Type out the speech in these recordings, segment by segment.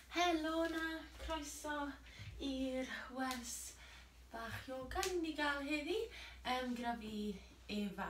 Helo na, croeso i'r wers bach yoga ni'n mynd i gael heddi um, gyda fi Efa.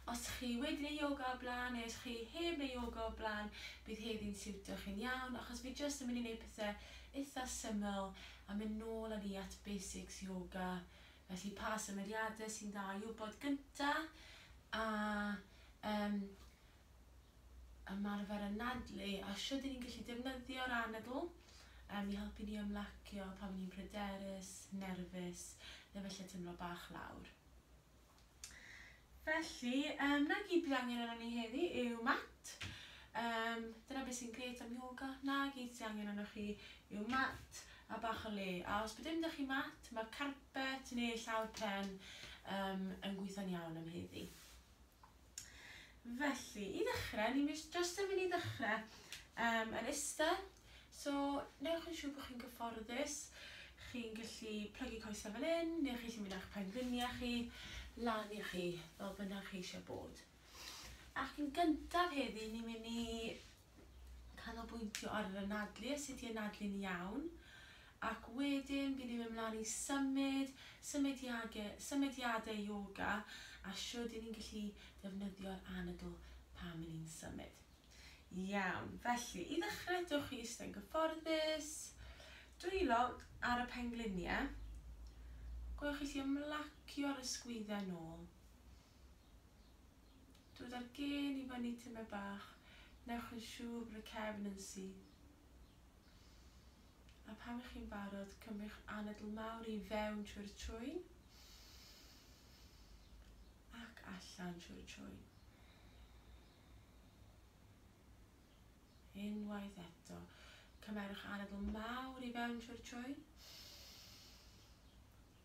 Os chi wedi neu yoga o blaen neu os chi heb neu yoga o blaen, bydd heddi'n siwtio chi'n iawn achos fi jyst yn mynd i wneud pethau eitha syml a mynd nôl â ni at basics yoga. Felly pa symudiadau sy'n dda i wybod gyntaf a um, ymarfer anadlu a shwt y'n ni'n gallu defnyddio'r anadl yym i helpu ni ymlacio pan 'yn ni'n pryderus, nerfus neu falle timlo bach lawr. Felly yym 'na gyd bydd angen arnon ni heddi yw mat, yym dyna beth sy'n grêt am yoga, 'na gyd sy' angen arnoch chi yw mat a bach o le a os bydd dim 'da chi mat ma'r carpet neu llawr pren yym yn gweithio'n iawn am heddi. Felly, i ddechrau, ni'n mynd jyst yn mynd i ddechrau um, yn eistedd. So, newch yn siŵr bod chi'n gyfforddus. Chi'n gallu plygu coesau fel un, neu chi'n gallu mynd â'ch pengliniau chi lan i chi, fel bynnag chi eisiau bod. Ac yn gyntaf heddi, ni'n mynd i canolbwyntio ar yr anadlu a sut i anadlu'n iawn, ac wedyn bydd ni'n mynd mlaen i symud, symudiage, symudiadau ioga a shwd i ni'n gallu defnyddio'r anadl pan ry'n ni'n symud. Iawn, felly, i ddechrau dewch chi eistedd yn gyfforddus, dwylo ar y pengliniau, gwnewch chi allu ymlacio ar y sgwyddau nôl. Dod â'r gên i fyny tyme bach, newch yn siŵr bod y cefn yn syth. A phan ych chi'n barod, cymrwch anadl mawr i fewn trwy'r trwyn ac allan trwy'r trwyn. Unwaith eto, cymerwch anadl mawr i fewn trwy'r trwyn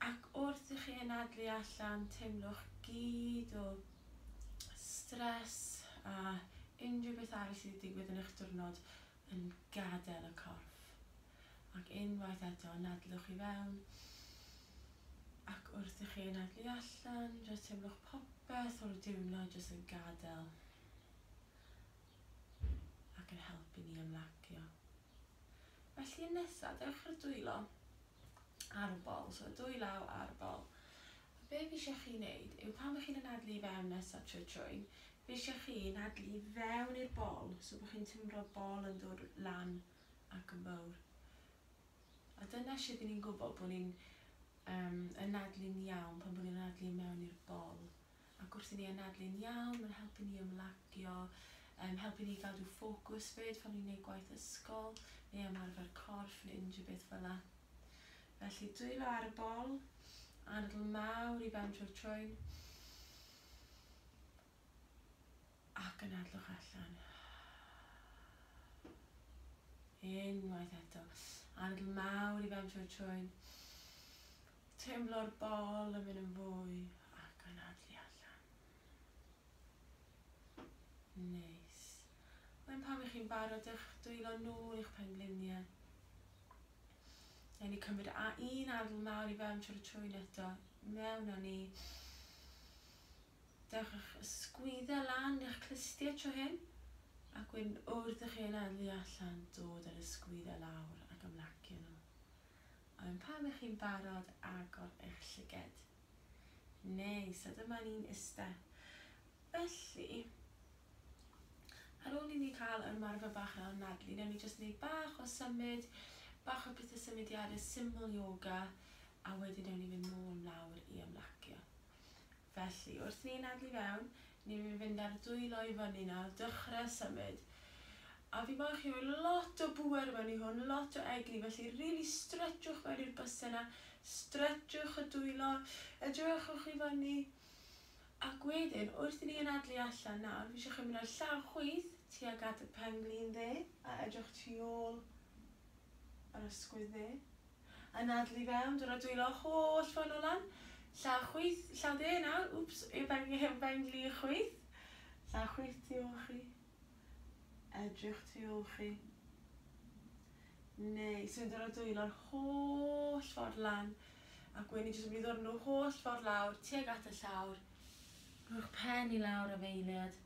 Ac wrth i chi anadlu allan, teimlwch gyd o stress a unrhyw beth arall sydd wedi digwydd yn eich diwrnod yn gadael y corff. Ac unwaith eto, anadlwch i fewn, ac wrth i chi anadlu allan, jyst teimlwch popeth o'r diwrnod jyst yn gadael. ac yn helpu ni ymlacio. Felly yn nesaf, dewch i'r dwylo ar y bol, so y dwy law ar y bol. A be fi eisiau chi wneud yw pan bych chi'n anadlu i fewn nesaf trwy trwyn, fi eisiau chi anadlu i fewn i'r bol, so bod chi'n timro bol yn dod lan ac yn fawr. A dyna sut ni'n gwybod bod ni'n um, anadlu'n iawn pan bod ni'n anadlu mewn i'r bol. Ac wrth i ni anadlu'n iawn, mae'n helpu ni ymlacio, yn helpu ni gadw ffocws 'fyd pan ni'n gwneud gwaith ysgol, neu ymarfer corff, neu unrhyw beth fel 'na. Felly, dwylo ar y bol, anadl mawr i fewn trwy'r trwyn, ac anadlwch allan. Unwaith eto, anadl mawr i fewn trwy'r trwyn, Teimlo'r bol yn mynd yn fwy ac anadlu allan. Neis. Wedyn pan ych chi'n barod dewch dwylo nôl i'ch pengliniau. Newn ni cymryd un adl mawr i fewn trwy'r twyn eto. Mewn â ni. Dewch â'ch ysgwyddau lan i'ch clustiau tro hyn. Ac wedyn wrth i chi anadlu allan, dod â'r ysgwyddau lawr ac ymlacio nhw. A ŵan pan ych chi'n barod agor eich llyged. Neis, a dyma ni'n iste. Felly, ar ôl i ni cael ymarfer bach yn anadlu, newn ni jyst neud bach o symud, bach o pethe symudiade syml ioga, a wedyn newn ni fynd nôl mlawr i ymlacio. Felly, wrth i ni anadlu i fewn, ni'n mynd i fynd ar dwylo i fyny nawr, dychre symud. A fi moyn chi roi lot o bŵer mewn i hwn, lot o egni, felly rili stretswch mewn i'r byse yna, stretswch y dwylo, edrychwch i fyny. Ac wedyn, wrth i ni anadlu allan nawr, fi eisiau chi mynd â llaw chwith tuag at y pen-glin dde, a edrych tu ôl yr ysgwydd dde. yn adl i fewn, dod a dwylo holl ffon o lan, llaw chwith, llaw de nawr, wps, eu ben, eu ben gli chwith, llaw chwith tu ôl chi, edrych tu ôl chi, neu sy'n dod a dwylo'r holl ffordd lan, a gwen i jyst yn mynd i ddod nhw holl ffordd lawr, tuag at y llawr, rhowch pen i lawr a feiliad,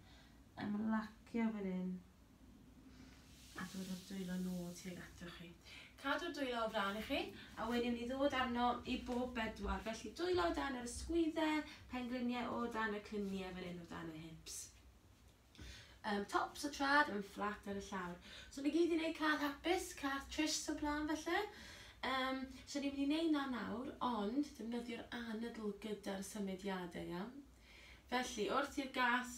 ymlacio fan hyn, A dod â'r dwylo nôl tuag atoch chi. Cadw'r dwylo o flaen i chi, a wedyn i ddod arno i bob bedwar. Felly dwylo o dan yr ysgwyddau, pengliniau o dan y cliniau fan hyn o dan y hips. Um, tops o trad yn fflat ar y llawr. So ni gyd i wneud cath hapus, cath tryst o blaen felly. Um, so ni'n mynd i wneud na nawr, ond defnyddio'r anadl gyda'r symudiadau, iawn? Felly, wrth i'r gas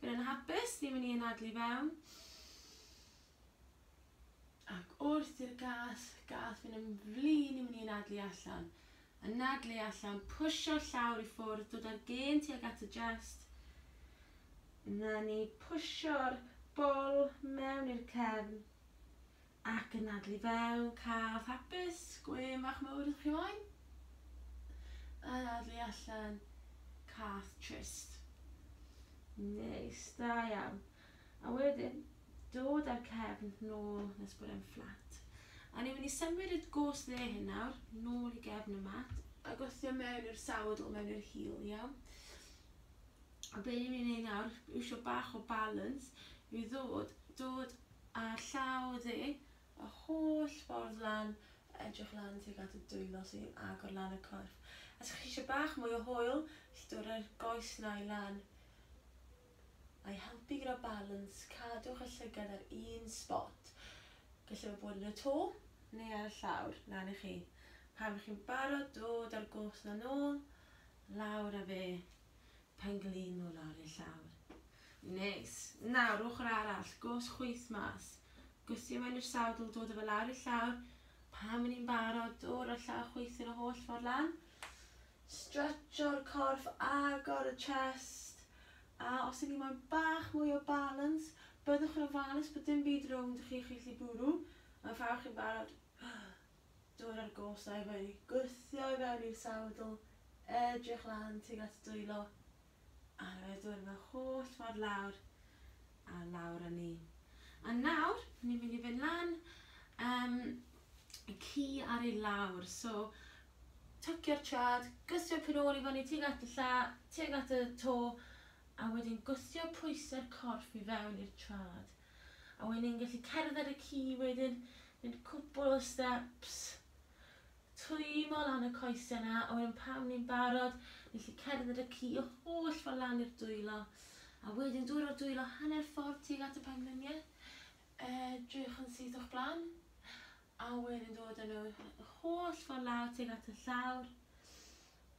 fynd yn hapus, ni'n mynd i anadlu fewn. Ac wrth i'r gas, gas fynd yn flin, ni'n mynd i anadlu allan. Anadlu allan, pwysio llawr i ffwrdd, dod â'r gen tuag at y jest. Na ni pwysio'r bol mewn i'r cefn. Ac yn adel i fewn cath hapus, gwên fach mawr ydych chi moyn? Yn adel i allan cath trist. Neis, da iawn. A wedyn, dod ar cefn nôl nes bod e'n fflat. A ni'n mynd i symud y gos dde hyn nawr, nôl i gefn y mat, a gosio mewn i'r sawdl, mewn i'r hil, iawn? A be ni'n mynd i wneud nawr, iwsio bach o balance, yw ddod, dod Ar llaw dde, y holl ffordd lan, edrych lan tuag at y dwylo sy'n agor lan y corff. Os ych chi eisiau bach mwy o hwyl, gellith dod â'r goes nau lan a'i helpu gyda balans, cadwch y llygad ar un sbot. Gallai fe fod yn y to neu ar y llawr, lan i chi. Pan chi'n barod, dod â'r goes 'na nôl, lawr â fe. Pengliniwr ar ei llawr. Neis! Nawr, ochr arall, gos chwith mas. Gwthio i mewn i'r sadl, dod â fe lawr i'r llawr. Pan fy ni'n barod, dod â'r llaw chwith yn y holl ffordd lan. Stretsio'r corff, agor y chest. A os ydyn ni moyn bach mwy o balans, byddwch yn ofalus bod dim byd rownd chi chi'n gallu bwrw. Mae'n fawr chi'n barod. Dod â'r gorsau wedi gwthio i fewn i'r sawdl, edrych lan tuag at dwylo, a roedd dŵr fy holl ffordd lawr a lawr â ni. A nawr, ni'n mynd i fynd lan yym y ci ar ei lawr, so twcio'r traed, gwthio cynôl i fyny tuag at y lla, tuag at y to, a wedyn gwthio pwysau'r corff i fewn i'r traed. A wedyn ni'n gallu cerdded y ci wedyn, mynd cwpl o steps, twymo lan y coesau 'na, a wedyn pan ni'n barod, ni'n gallu cerdded y ci y holl ffordd lan i'r dwylo, a wedyn dod o'r dwylo hanner ffordd tuag at y pengliniau, edrych yn syth o'ch blaen, a wedyn dod â nhw y holl ffordd lawr tuag at y llawr,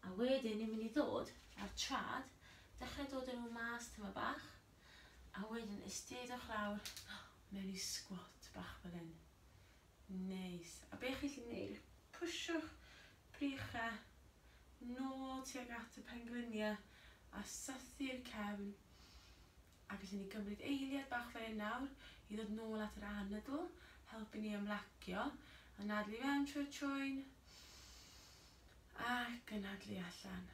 a wedyn ni'n mynd i ddod â'r traed, dechrau dod â nhw mas tamaid bach, A wedyn istedwch lawr mewn i squat bach fel hyn. Neis. A be chi'n gallu neud yw pwshwch brycha nôl tuag at y pengliniau a sythu'r cefn. A gallwn ni gymryd eiliad bach fel hyn nawr i ddod nôl at yr anadl, helpu ni ymlacio, anadlu fewn trwy'r trwyn ac anadlu allan.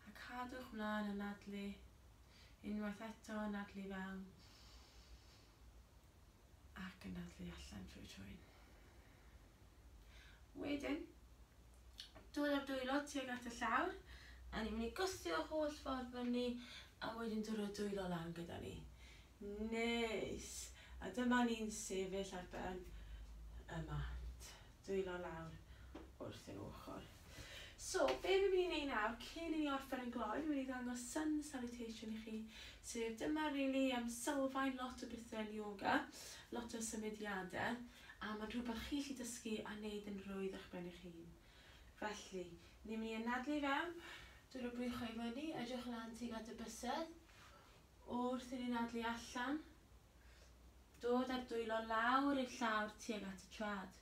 A cadwch mlaen anadlu. Unwaith eto, anadlu fewn. Ac anadlu allan trwy twyn. Wedyn, dod â'r dwylo tuag at y llawr, a ni'n mynd i gwthio'r holl ffordd fyny, a wedyn dod â'r dwylo lan gyda ni. Neis! A dyma ni'n sefyll ar ben y mat. Dwylo lawr wrth ein ochr. So, be fi'n mynd i wneud nawr, cyn i ni orffen yn gloi, fi'n mynd i ddangos sun salutation i chi. Sef, dyma rili um, sylfaen lot o bethau yn yoga, lot o symudiadau, a mae'n rhywbeth chi'n gallu dysgu a wneud yn rwydd eich ben eich hun. Felly, ni'n mynd i anadlu i fewn, dod o bwychau i fyny, edrych lan tuag at y bysedd, wrth i ni anadlu allan, Dod a'r dwylo lawr i'r llawr tuag at y trad.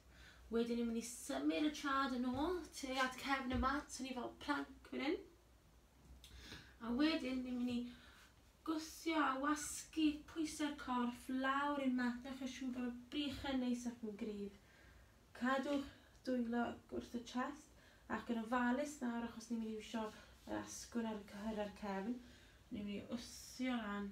Wedyn ni'n mynd i symud y trad yn ôl tuag at cefn y mat, so ni fel plank fan hyn. A wedyn ni'n mynd i gwthio a wasgu pwysau'r corff lawr i'r mat, newch yn siŵr bod y brichau neis ac yn gryf. Cadwch dwylo wrth y chest ac yn ofalus nawr achos ni'n mynd i wisio yr asgwrn ar y cyhyrau'r cefn. Ni'n mynd i wthio lan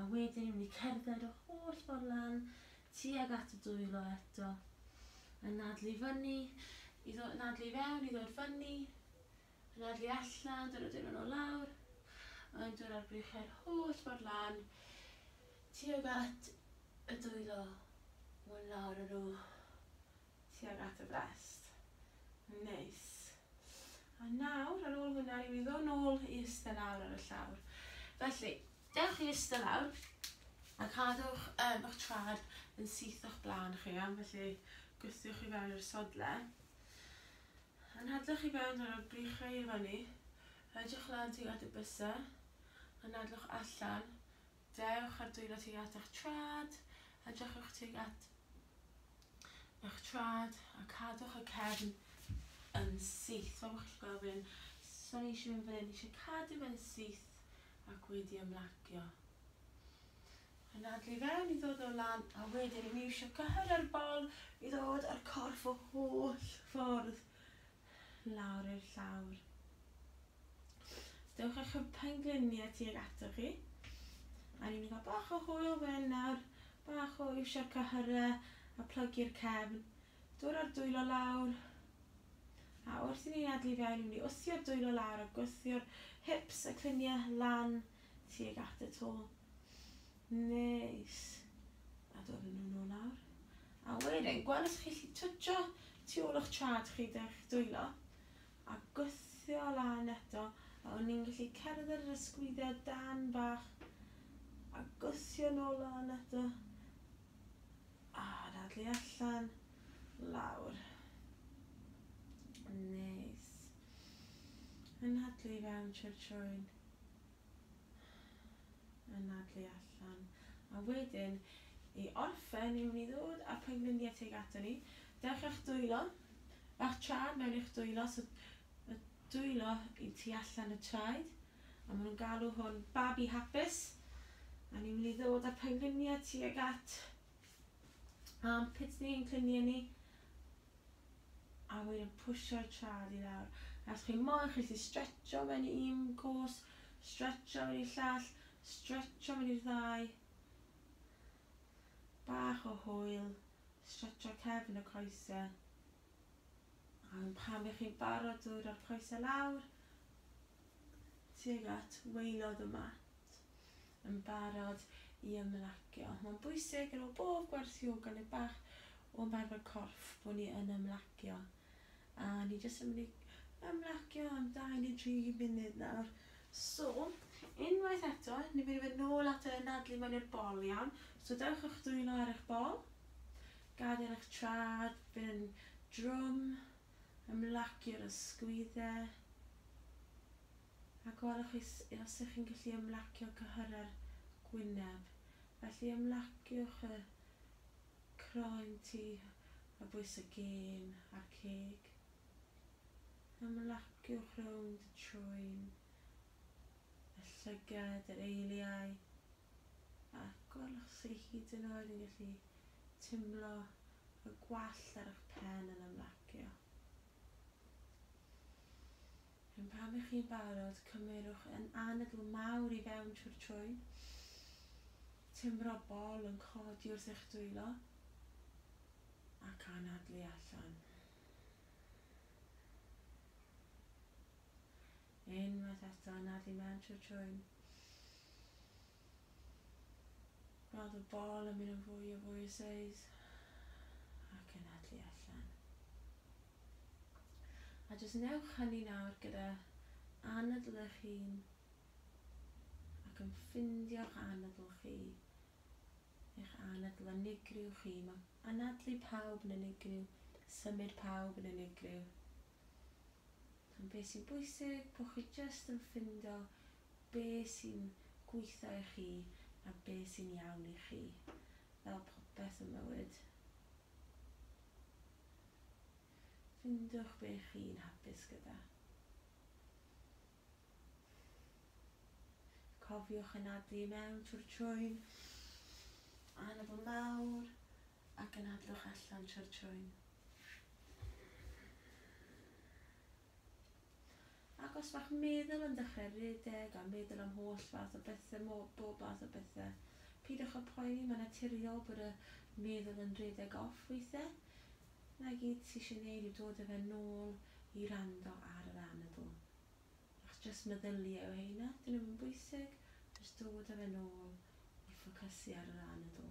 a wedyn ni'n mynd i cerdded y holl ffordd lan tuag at y dwylo eto, yn nadlu fyny, i ddod, nadlu i fewn, i ddod fyny, yn nadlu allan, dod o dyn yn o lawr, yn dod ar brichau'r holl ffordd lan tuag at y dwylo, mwy lawr yn nhw. tuag at y brest. Neis. A nawr, ar ôl hwnna, rwy'n ddod nôl i ystod lawr ar y llawr. Felly, dewch i ystod lawr a cadwch um, eich trad yn syth o'ch blaen chi, am felly gwthiwch i fewn i'r sodle. Yn hadlwch i fewn ar y brichau i fyny, rhaidwch lan tuag at y bysau, yn adlwch allan, Dewch â'r dwylo tuag at eich traed, edrychwch tuag at eich traed a cadwch y cefn yn syth. Fel bod chi'n gweld fe'n so ni eisiau mynd fan hyn, ni eisiau cadw fe'n syth ac wedi ymlacio. Yn adlu fewn i ddod o lan a wedyn i mi eisiau cyhyrio'r bol i ddod â'r corff o holl ffordd lawr i'r llawr. Os dewch â'ch pengliniau tuag atoch chi, a ni'n cael bach o hwyl fan hyn nawr, bach o iwsio'r cyhyrau a plygu'r cefn, dod â'r dwylo lawr, a wrth i ni adlu fewn, ni'n mynd i wthio'r dwylo lawr a gwthio'r hips a cliniau lan tuag at y to. Neis. A dod â nhw nôl nawr. A wedyn, gweld os chi'n gallu twtsio tu ôl o'ch traed chi 'da'ch dwylo, a gwthio lan eto, a o'n ni'n gallu cerdded yr ysgwyddau dân bach, a gwthio nôl lan eto, a dadlu allan, lawr. Neis. A nadlu i fewn trwy'r trwyn. anadlu allan. A wedyn, i orffen, ni'n mynd i ddod â'r pengliniau tuag ato ni. Dewch i'ch dwylo. Bach traed mewn i'ch dwylo, so y dwylo i tu allan y traed. A maen nhw'n galw hwn babi hapus. A ni'n mynd i ddod â'r pengliniau tuag at armpits ni, ein cliniau ni. a wedyn yn pwsio'u traed i lawr as chi moyn, chi'n gallu stretsio mewn i un cwrs, stretsio mewn i'r llall, stretsio mewn i'r ddau, bach o hwyl, stretsio cefn y coesau, a wedyn pan 'y chi'n barod dod â'r coesau lawr, tuag at waelod y mat yn barod i ymlacio. Mae'n bwysig ar ôl bob gwersi o gynnau bach o ymarfer corff bod ni yn ymlacio. A ni jyst yn mynd i ymlacio am 2 neu 3 munud nawr. So, unwaith eto, ni'n mynd i fynd nôl at y nadlu mewn i'r bol iawn. So dewch o'ch dwylo ar eich bol. Gadael eich traed fynd yn drwm. Ymlaciw'r ysgwyddau a gwelwch os ych chi'n gallu ymlacio cyhyrau'r gwyneb. Felly ymlaciwch y croen tu a bwys y gên a'r ceg. Ymlaciwch rownd y trwyn, y llygad, yr eiliau. ac os chi hyd yn oed yn gallu timlo y gwallt ar eich pen yn ymlacio. Yn pan ych chi'n barod, cymerwch yn anadl mawr i fewn trwy'r trwyn, timro bol yn codi wrth eich dwylo, ac anadlu allan. Unwaith eto anadlu mewn trwy'r trwyn. Gweld y bol yn mynd yn fwy a fwy o seis ac anadlu allan. A jyst newch hynny nawr gyda anadl eich hun ac yn ffindio'ch anadl chi, eich anadl unigryw chi. Mae anadlu pawb yn unigryw, symud pawb yn unigryw. Ond be sy'n bwysig, bod chi jyst yn ffindo be sy'n gweithio i chi a be sy'n iawn i chi, fel popeth ym mywyd. Ffindwch be chi'n hapus gyda. Cofiwch anadlu i mewn trwy'r trwyn, anadl mawr, ac yn adloch allan trwy'r trwyn. Ac os mae'ch meddwl yn dechrau rhedeg a meddwl am holl fath o bethe, bob math o bethe, pidwch â phoeni, mae'n naturiol bod y meddwl yn rhedeg off weithiau. Na gyd ti eisiau neud yw dod â fe nôl i wrando ar yr anadl. Ac jyst meddylia yw heina, dyn nhw'm yn bwysig, jyst dod â fe nôl i ffocysu ar yr anadl.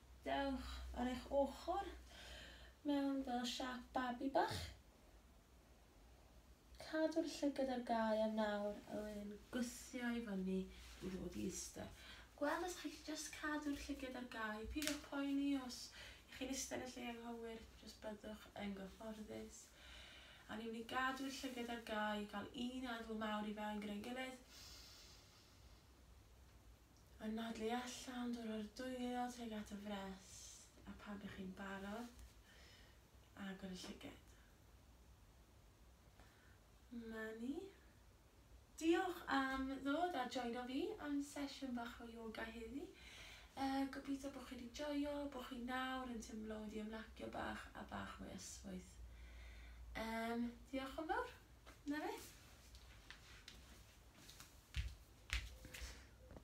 Dewch ar eich ochr mewn fel siâp babi bach. Cadw'r llygad ar gau a nawr a wedyn gwthio i fyny i ddod i iste. Gweld os chi jyst cadw'r llygad ar gau, peidiwch poeni os i chi'n iste yn y lle anghywir, jyst byddwch yn gyfforddus. A ni'n mynd i gadw'r llygad ar gau, cael un adl mawr i fewn gyda'n gilydd. Anadlu allan, dod o'r dwylo tuag at y frest, a phan bych chi'n barod, agor y llyged. Mani. Diolch am ddod a joino fi am sesiwn bach o yoga heddi. Yy, gobeithio bo' chi 'di joio, bo' chi nawr yn timlo wedi ymlacio bach a bach mwy yswyth. Yym, diolch yn fawr. 'Na fe.